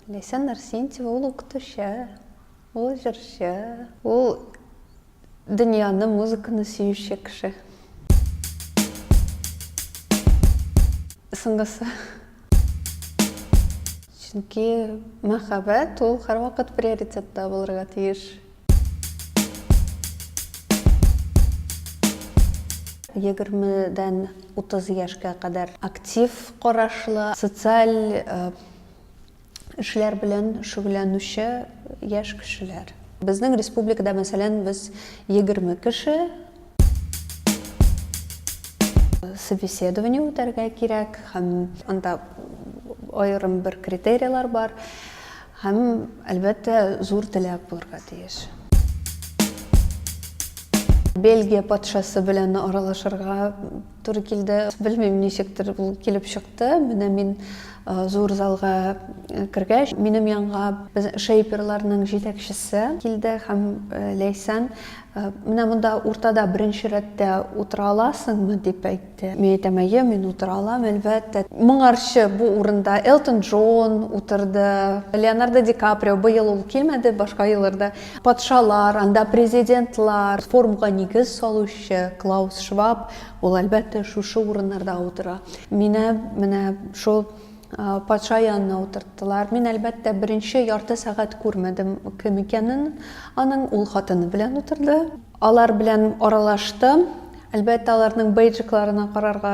Ләйсән Нарсентьева ул укытучы, ул җырчы, ул дөньяны, музыканы сөюче кеше. Соңгысы. Чөнки мәхәббәт ул һәрвакыт приоритетта булырга тиеш. Егермедән утыз яшькә кадәр актив карашлы, социаль эшләр белән шөгыльләнүче яшь кешеләр. Безнең республикада, мәсәлән, без егерме кеше собеседование үтәргә кирәк һәм анда аерым бер критерийлар бар. Һәм, әлбәттә, зур теләк булырга тиеш. Бельгия патшасы белән аралашырга туры килде. Белмим, ничектер ул килеп чыкты. Менә мин зур залга кергәч, минем янга без шейперларның җитәкчесе килде һәм Ләйсән, менә монда уртада беренче рәттә утыра аласыңмы дип әйтте. Мин әйтәм, әйе, мин утыра алам, әлбәттә. Моңарчы бу урында Элтон Джон утырды, Леонардо Ди Каприо, быел ул килмәде, башка елларда патшалар, анда президентлар, форумга нигез салучы Клаус Шваб, ул, әлбәттә, шушы урыннарда утыра. Мине менә шул патша янына утырттылар. Мин, әлбәттә, беренче ярты сәгать күрмәдем кем икәнен аның, ул хатыны белән утырды. Алар белән аралаштым. Әлбәттә, аларның бейджикларына карарга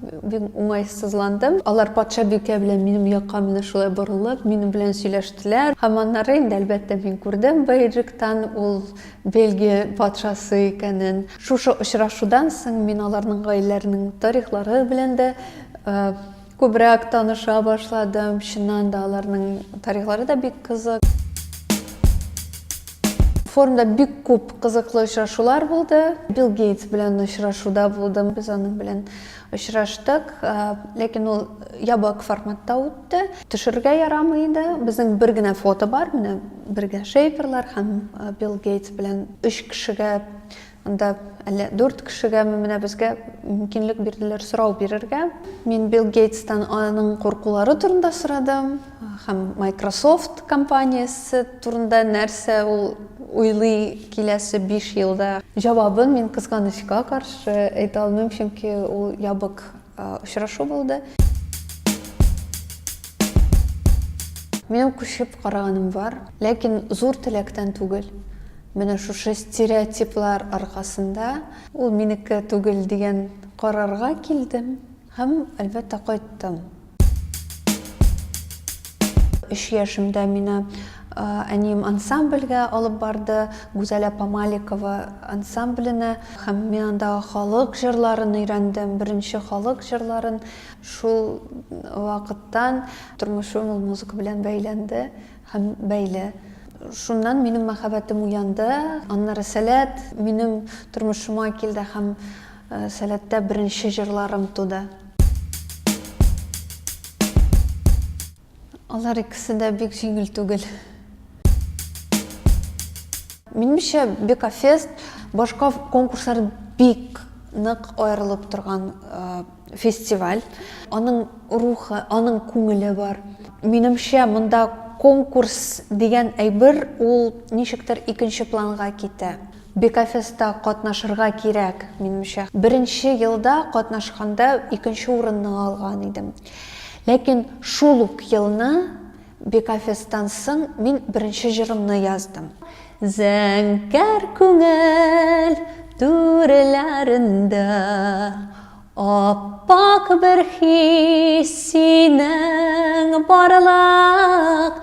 бик уңайсызландым. Алар патшабикә белән минем якка менә шулай борылып, минем белән сөйләштеләр. Һәм аннары инде, әлбәттә, мин күрдем бейджиктан ул Бельгия патшасы икәнен. Шушы очрашудан соң мин аларның гаиләләренең тарихлары белән дә Күбрәк таныша башладым. Чыннан да аларның тарихлары да бик кызык. Форумда бик күп кызыклы очрашулар булды. Билл Гейтс белән очрашуда булдым. Без аның белән очраштык. Э, ләкин ул ябык форматта үтте. Төшерергә ярамый иде. Безнең бер генә фото бар. Менә бергә Шейперлар һәм э, Билл Гейтс белән өч кешегә Анда әллә дүрт кешегәме менә безгә мөмкинлек бирделәр сорау бирергә. Мин Билл Гейтстан аның куркулары турында сорадым һәм Microsoft компаниясе турында нәрсә ул уйлый киләсе биш елда. Җавабын мин, кызганычка каршы, әйтә алмыйм, чөнки ул ябык Очрашу булды. Минем күшеп караганым бар, ләкин зур теләктән түгел. Менә шушы стереотиплар аркасында ул минеке түгел дигән карарга килдем һәм әлбәттә кайттым. Өч яшемдә мине әнием ансамбльгә алып барды, Гүзәлә Памаликова ансамбленә. Һәм мин анда халык җырларын өйрәндем, беренче халык җырларын. Шул вакыттан тормышым ул музыка белән бәйләнде һәм бәйле. Шуннан минем мәхәббәтем уянды. Аннары Сәләт минем тормышыма килде һәм Сәләттә беренче җырларым туды. Алар икесе дә бик җиңел түгел. Минемчә, Бекафест башка конкурслар бик нык аерылып торган фестиваль. Аның рухы, аның күңеле бар. Минемчә, монда конкурс дигән әйбер ул ничектер икенче планга китә. Бекафеста катнашырга кирәк, минемчә. Беренче елда катнашканда икенче урынны алган идем. Ләкин шул ук елны Бекафестан соң мин беренче җырымны яздым. Зәңгәр күңел түреләрендә Ап-ак бер хис синең барлык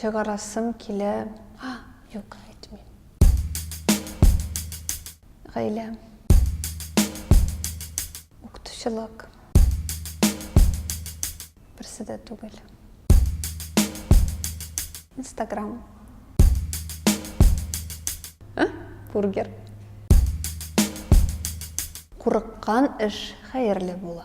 Чыгарасым килә. А, юк, әйтмим. Гаилә. Укытучылык. Берсе дә түгел. Инстаграм. А? Бургер. Курыккан эш хәерле була.